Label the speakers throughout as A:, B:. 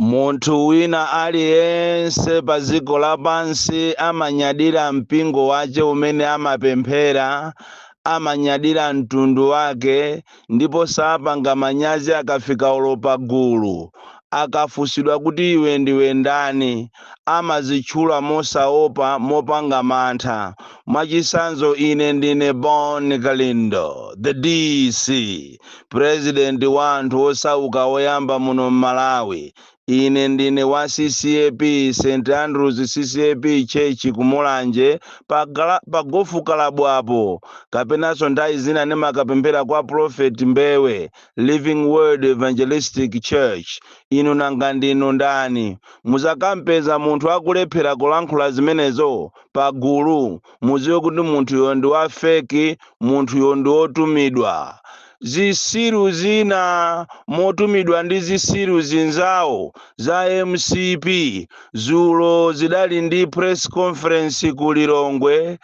A: Munthu wina aliyense pa dziko lapansi amanyadira mpingo wake umene amapemphera, amanyadira mtundu wake, ndipo sapanga manyazi akafika olo pa gulu. Akafunsidwa kuti iwe ndiwe ndani, amazitchula mosaopa, mopanga mantha. Mwacitsanzo, Ine ndine Bon Kalindo, the DC. president wa anthu osauka oyamba muno mmalawi ine ndine wa ccap st andrews ccap church ku mulanje pa gofu kalabu apo kapenanso nthawi zina ndimakapemphera kwa prophet mbewe living word evangelistic church inu nanga ndinu ndani muzakampeza munthu akulephera kulankhula zimenezo pagulu mudziwe kuti munthuyo ndi wa feki munthuyo ndi wotumidwa zisiru zina motumidwa ndi zisiru zinzawo za mcp zulo zidali ndi press conference ku lilongwe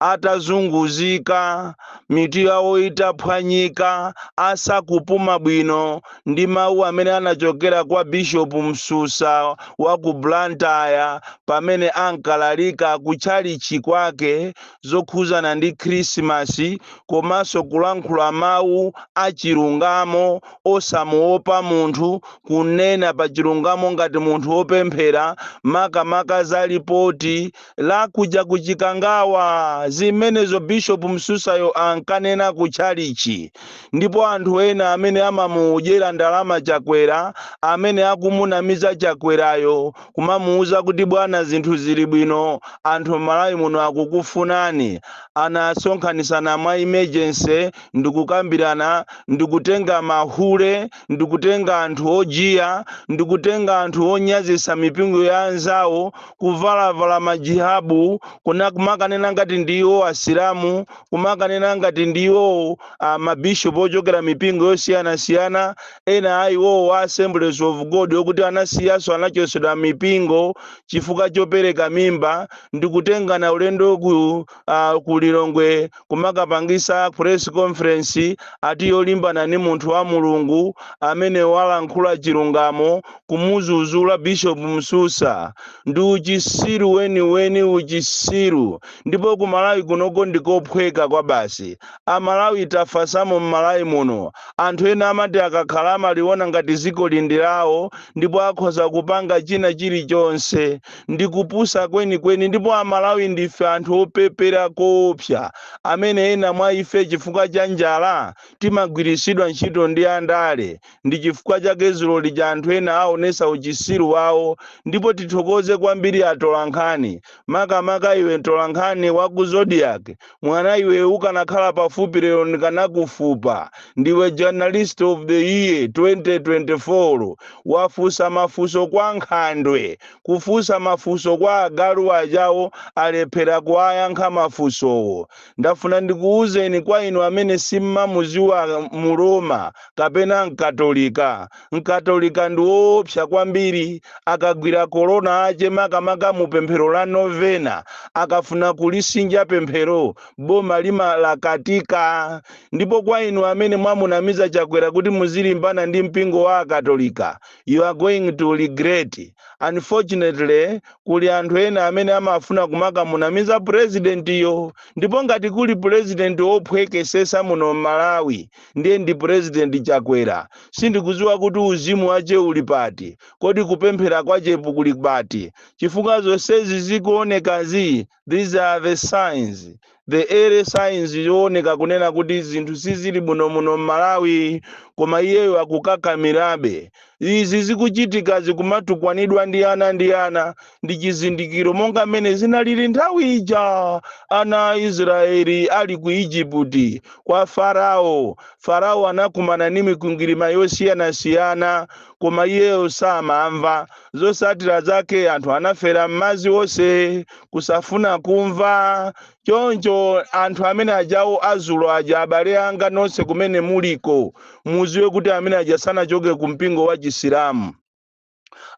A: atazunguzika mitu yawo itaphwanyika asakupuma bwino ndi mawu amene anachokera kwa Bishopu Msusa wa ku Blantyre pamene ankalalika ku tchalitchi kwake zokhuzana ndi Khrisimasi komanso kulankhula mawu a chilungamo osamuopa munthu, kunena pa chilungamo ngati munthu opemphera makamaka za lipoti la kuja ku Chikangawa, zimenezo Bishop Msusayo ankanena ku tchalichi. Ndipo anthu ena amene amamudyera ndalama Chakwera, amene akumunamiza Chakwerayo, kumamuuza kuti bwana zinthu zili bwino, anthu mmalawi muno akukufunani, anasonkhanisana mwa emergency ndikukambirana ndikutenga mahule, ndikutenga anthu ojiya ndikutenga anthu onyazisa mipingo ya anzawo kuvalavala majihabu kumakanena ngati ndiwo asilamu kumakanena ngati ndiwo uh, mabishop ochokera mipingo yosiyanasiyana ena a iwowo wa assemblies of god okuti anasiyaso anachosedwa mipingo chifukwa chopereka mimba ndikutengana ulendo ku uh, ku lilongwe kumakapangisa press conference ati yolimbana ni munthu wa mulungu amene walankhula chilungamo kumuzuzula bishop msusa ndi uchisiru weniweni uchisiru ndipo ku malawi kunoko ndikophweka kwabasi amalawi tafasamo mmalawi muno anthu ena amati akakhala amaliona ngati ziko ili ndi lawo ndipo akhoza kupanga china chilichonse ndi kupusa kwenikweni ndipo amalawi ndife anthu opepera koopsa amene ena mwa ife chifukwa cha njala timagwiritsidwa ntchito ndi andale ndi chifukwa chake zulo lija anthu ena aonesa uchisiru wawo ndipo tithokoze kwambiri atolankhani makamaka iwe mtolankhani wa ku zodiac Mwana iwe ukanakhala pafupi lero ndikanakufupa. Ndiwe journalist of the year 2024. Wafunsa mafunso kwa nkhandwe. Kufunsa mafunso kwa agalu ajawo alephera kuwayankha mafunsowo. Ndafuna ndikuuzeni kwa inu amene simmamuziwa mu Roma kapena mkatolika. Mkatolika ndi woopsa kwambiri. Akagwira kolona ache, makamaka mu pemphero la novena, akafuna kulisinja pemphero, boma limalakatika. Ndipo kwa inu amene mwamunamiza Chakwera kuti muzilimbana ndi mpingo wa Akatolika, you are going to regret. Unfortunately, kuli anthu ena amene amafuna kumakamunamiza President yo. Ndipo ngati kuli President wophwekesesa muno m'Malawi, ndiye ndi president chakwera sindikuziwa kuti uzimu wache uli pati kodi kupemphera kwachepu kuli pati chifukwa zonsezi zikuonekazi these are the signs the early signs zooneka kunena kuti zinthu sizili bwino muno mmalawi koma iyeyo akukakamirabe Izi zikuchitikazi kumatukwanidwa ndi ana ndi ana ndi chizindikiro monga mmene zinalili nthawi ija ana a Israeli ali ku Ijiputi kwa Farao. Farao anakumana ndi mikwingwirima yosiyanasiyana koma iyeyo samamva. Zotsatira zake anthu anafera m'madzi onse kusafuna kumva choncho anthu amene ajawo azulo aja abale anga nonse kumene muliko muziwe kuti amene aja sanachoke ku mpingo wa chisilamu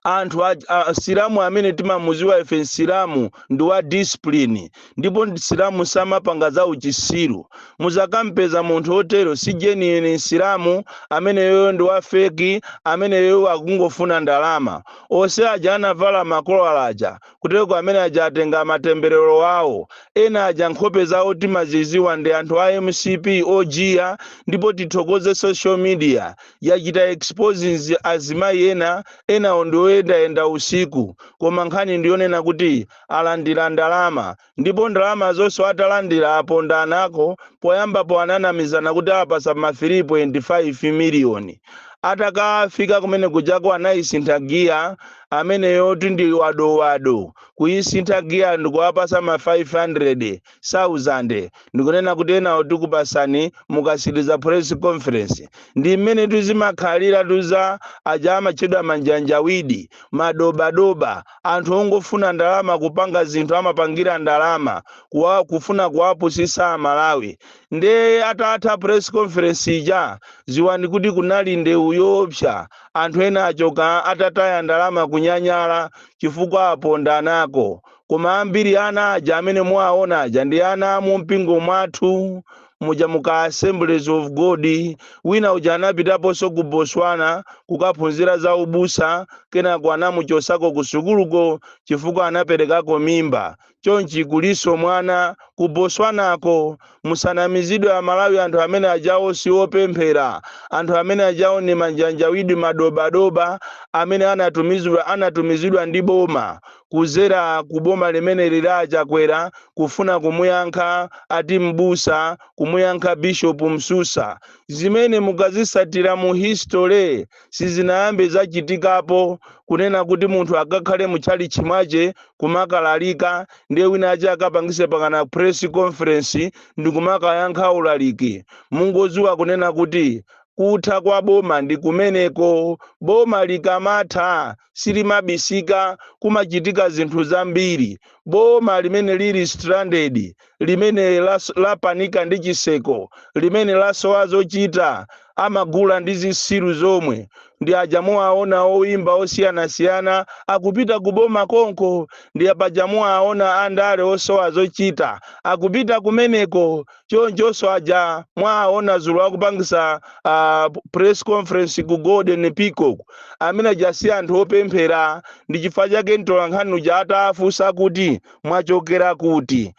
A: anthu a- a- msilamu amene timamuziwa ife msilamu ndi wa discipline ndipo msilamu samapanga za uchisiru muzakampeza munthu otero si genuine msilamu ameneyoyo ndi wa fake ameneyoyo akungofuna ndalama onse aja anavala makolala aja kutereko amene aja atenga matemberero awo ena aja nkhope zawo timaziziwa ndi anthu a mcp ojiya ndipo tithokoze social media yachita exposing zi- azimayi ena enawo ndi oyendayenda usiku koma nkhani ndiyonena kuti alandira ndalama ndipo ndalama zonso atalandira apondanako poyambapo ananamizana kuti awapasa ma 3.5 miliyoni atakafika kumene kujako anayisintha giya ameneyotu ndi wadowado kuyisintha giya ndikuwapasa ma 500,000 ndikunena kuti enawo tikupasani mukatsiriza press conference ndi mmene tuzimakhalira tuza aja amatchedwa manjanjawidi madobadoba Anthu ongofuna ndalama kupanga zinthu amapangira ndalama kufuna kuwapusisa amalawi nde atatha press conference ija ziwani kuti kunali ndewu yoopsa anthu ena achoka atataya ndalama kunyanyala chifukwa apondanako koma ambiri ana aja amene muwaona aja ndi ana mumpingo mwathu muja muka assemblies of god wina uja anapitaponso ku botswana kukaphunzira za ubusa kenako anamuchosako ku sukuluko chifukwa anaperekako mimba chonchi kulinso mwana ku botswanako musanamizidwe amalawi anthu amene ajawo si opemphera anthu amene ajawo ni majanjawidi madobadoba amene anatumizidwa anatumizidwa ndi boma kuzera ku boma limene lili la achakwera kufuna kumuyankha ati m'busa kumuyankha bishop msusa zimene mukazisatira mu history sizinayambe zachitikapo kunena kuti munthu akakhale mu chalichi mwache kumakalalika ndiye wina wake akapangise mpakana press conference ndikumakayankha ulaliki mungoziwa kunena kuti kutha kwa boma ndi kumeneko boma likamatha silimabisika, kumachitika zinthu zambiri. Boma limene lili stranded, limene lapanika ndi chiseko, limene lasowa zochita, amagula ndi zisiru zomwe ndi paja muwaona oimba osiyanasiyana akupita ku boma konko ndi paja muwaona andale osowa zochita akupita kumeneko chonchonso aja mwaona zulo akupangisa press conference ku golden peacock amene aja si anthu opemphera ndi chifukwa chake mtolankhani uja atafunsa kuti mwachokera kuti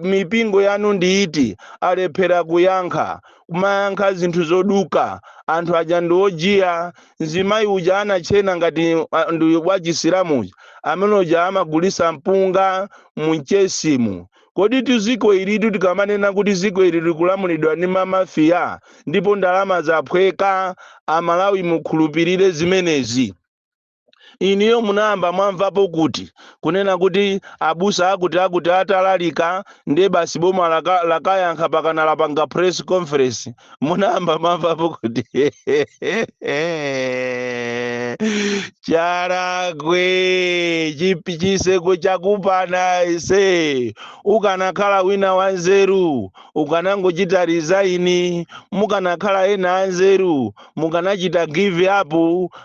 A: mipingo yanu ndi iti alephera kuyankha kumayankha zinthu zoduka anthu aja ndi ojiya mzimayi uja anatchena ngati ndi wachisilamu amene uja amagulisa mpunga mu mchesimu Komatu ziko ilitu tikamanena kuti ziko ili likulamulidwa ndi ma mafia ndipo ndalama zaphweka amalawi mukhulupilire zimenezi? Inuyo munayamba mwamvapo kuti kunena kuti abusa akuti akuti atalalika nde basi boma lakayankha mpakana lapanga press conference? munayamba mwamvapo kuti chakwera chiseko chakupana ise ukanakhala wina wanzeru ukanangochita resign mukanakhala ena anzeru mukanachita give up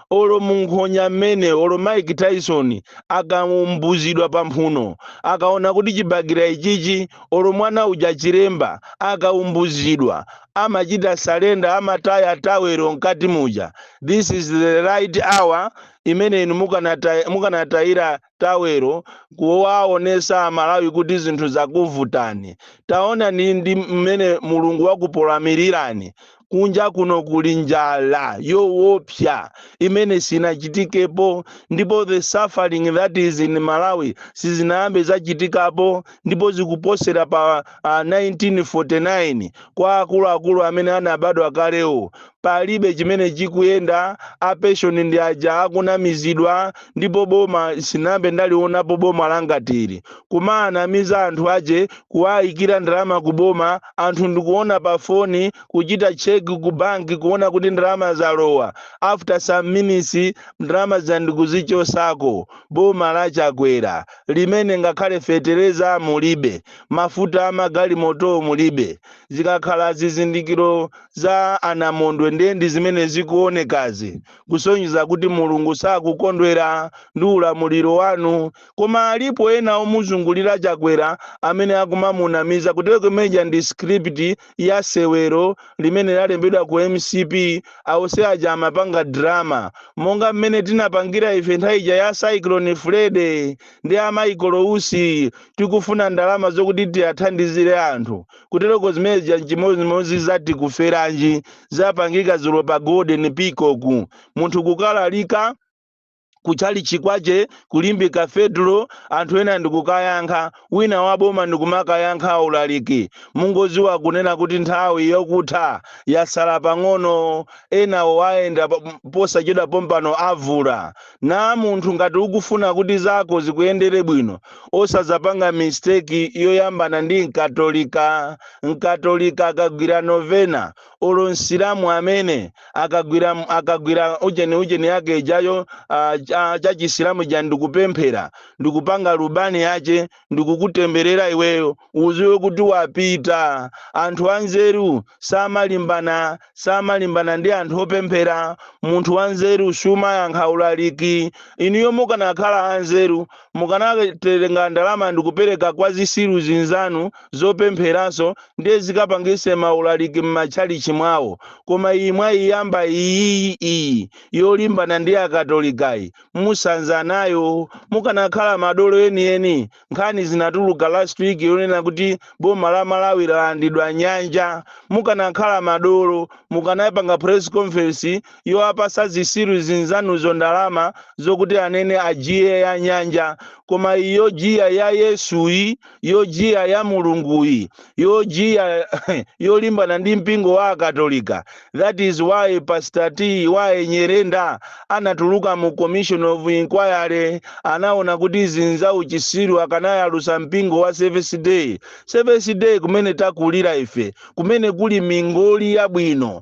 A: olo munkhonya mmene olo mike tyson akamumbuzidwa pamphuno akaona kuti chibakera ichichi olo mwana uja chilemba akaumbuzidwa amachita salenda amataya tawero mkati muja this is the right hour imene inu mukanata- mukanatayira tawero kuwaonesa amalawi kuti zinthu zakuvutani taonani ndi mmene mulungu wakupolamirirani kunja kuno kuli njala yowopsa imene sinachitikepo ndipo the suffering that is in malawi sizinayambe zachitikapo ndipo zikuposera pa uh, 1949 kwa akuluakulu amene anabadwa kalewo palibe chimene chikuyenda apeshoni ndi aja akunamizidwa ndipo boma sinambe ndalionapo boma langatili kumanamiza anthu ake kuwayikira ndalama ku boma anthu ndikuona pa foni kuchita check ku bank kuona kuti ndalama zalowa after some minutes ndalama zija ndikuzichosako boma la chakwera limene ngakhale fetereza mulibe mafuta amagalimotowo mulibe zikakhala zizindikiro za anamondwe ndiye ndi zimene zikuonekazi kusonyeza kuti mulungu sakukondwera ndi ulamuliro wanu Koma alipo ena omuzungulira Chakwera amene akumamunamiza kutereko imene ija ndi script ya sewero limene lalembedwa ku mcp onse aja amapanga drama monga mmene tinapangira ife nthawi ija ya Cyclone Freddy ndi a Michael Usi tikufuna ndalama zokuti tiathandizire anthu kutereko zimene zija nchimozimozi za Tikuferanji zapangika zulo pa golden peacock munthu kukalalika kuchalichi kwache ku Limbe Cathedral anthu ena ndikukayankha wina waboma ndikumakayankha ulaliki mungoziwa kunena kuti nthawi yokutha yasala pang'ono enawo wayenda posachedwa pompano avulana munthu ngati ukufuna kuti zako zikuyendere bwino osazapanga mistake yoyambana ndi mkatolika mkatolika akagwira novena olo msilamu amene akagwira akagwira ujeni ujeni yake ijayo ah, cha- cha chisilamu ja ndikupemphera ndikupanga lubani yache ndikukutemberera iweyo uziwe kuti wapita anthu anzeru samalimbana samalimbana ndi anthu opemphera munthu wanzeru sumayankha ulaliki inuyo mukanakhala anzeru mukanatenga ndalama ndikupereka kwa zisiru zinzanu zopempheranso ndiye zikapangise maulaliki m'matchalichi mwawo koma iyi mwayiyamba iyiyi iyi yolimbana ndi akatolikayi musanza nayo mukanakhala madolo enieni nkhani zinatuluka last week yonena kuti boma la malawi lalandidwa nyanja mukanakhala madolo mukanapanga press conference yowapasa zisiru zinzanuzo ndalama zokuti anene ajiye ya nyanja koma iyi yojiya ya yesuyi yojiya ya mulunguyi yojiya yolimbana ndi mpingo wa akatolika that is why pastor TY nyirenda anatuluka mu commission of inquiry anaona kuti izi nza uchisiru akanayalusa mpingo wa seventh day seventh day kumene takulira ife kumene kuli mingoli yabwino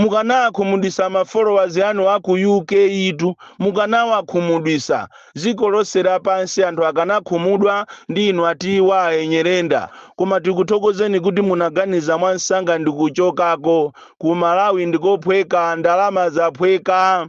A: mukanawakhumudwisa ma followers anu aku UK tu mukanawakhumudwisa ziko lonse lapansi anthu akanakhumudwa ndi inu a TY nyirenda koma tikuthokozeni kuti munaganiza mwansanga ndikuchokako ku Malawi ndikophweka ndalama zaphweka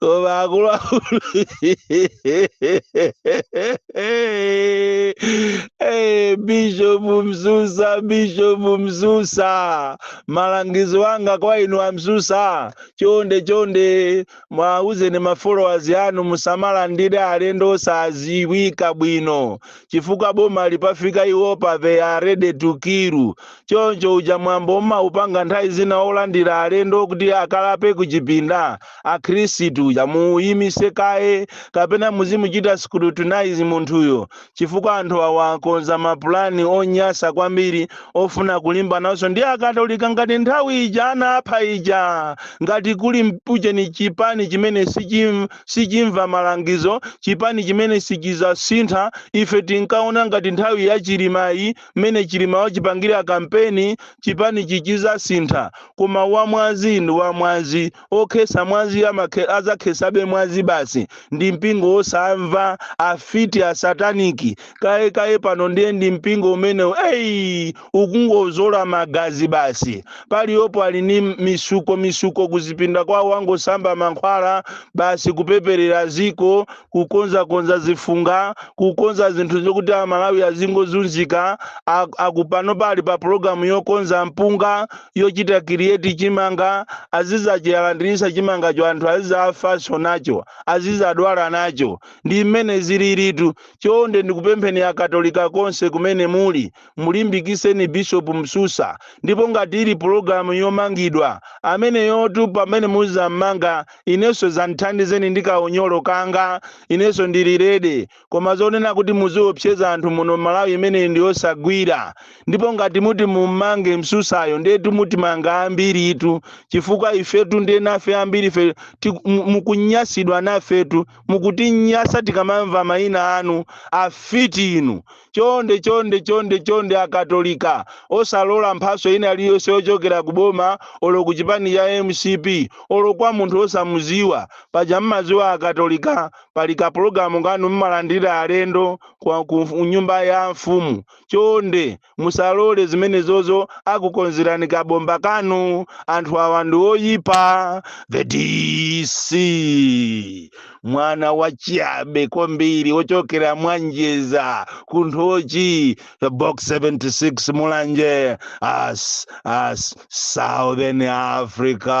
A: koma akulu a bishop msusa bishop msusa malangizo anga kwa inu a msusa chonde chonde mwauzeni ma followers anu musamalandire alendo osaziwika bwino chifukwa bomali pafika iwopa they are ready to kill Choncho uja mwambo mumaupanga nthawi zina olandira alendo kuti akalape kuchipinda akhristu uja muuyimitse kaye kapena muzimuchita scrutinize munthuyo chifukwa anthu awa akonza mapulani onyasa kwambiri ofuna kulimbananso ndi akatolika ngati nthawi ija anapha ija ngati kuli mpujeni chipani chimene sichimva malangizo chipani chimene sichizasintha ife tinkaona ngati nthawi ya chilimayi mmene chilima wachipangira kampeni chipanichi chizasintha koma wamwazi ndi wamwazi okhesa mwazi azakhesabe mwazi basi ndi mpingo wosamva afiti asataniki kaye kaye pano ndiye ndi mpingo umenewu eyi ukungozola magazi basi paliyopo ali ni misuko misuko kuzipinda kwawo angosamba mankhwala basi kupeperera ziko kukonzakonza zifunga kukonza zinthu zokuti amalawi azingozunzika aku pano pali pa pulogalamu yokonza mpunga yochita create chimanga azizachiyalandirisa chimangacho anthu azizafanso nacho azizadwala nacho ndi mmene zililitu chonde ndikupempheni akatolika konse kumene muli mulimbikiseni bishop msusa ndipo ngati ili pologalamu yomangidwa ameneyotu pamene muzammanga inenso zandithandizeni ndi kaunyolo kanga inenso ndili ready koma zonena kuti muziopseza anthu muno mmalawi imeneyi ndi yosagwira ndipo ngati muti mummange msusayo ndetu mutimanga ambiritu chifukwa ifetu ndiye nafe ambiri ife mukunyasidwa nafetu mukutinyasa tikamamva mayina anu afiti inu Chonde chonde chonde chonde a Katolika osalola mphatso ina liyonse yochokera ku boma olo ku chipani cha mcp olo kwa munthu osamuziwa paja mmaziwa a Katolika pali ka pologalamu kanu mmalandira alendo ku nyumba ya mfumu chonde musalole zimenezozo akukonzerani ka bomba kanu anthu awa ndi oyipa the DC mwana wachiyabe kwambiri wochokera mwanjeza ku nthochi box 76 mulanje as as southern africa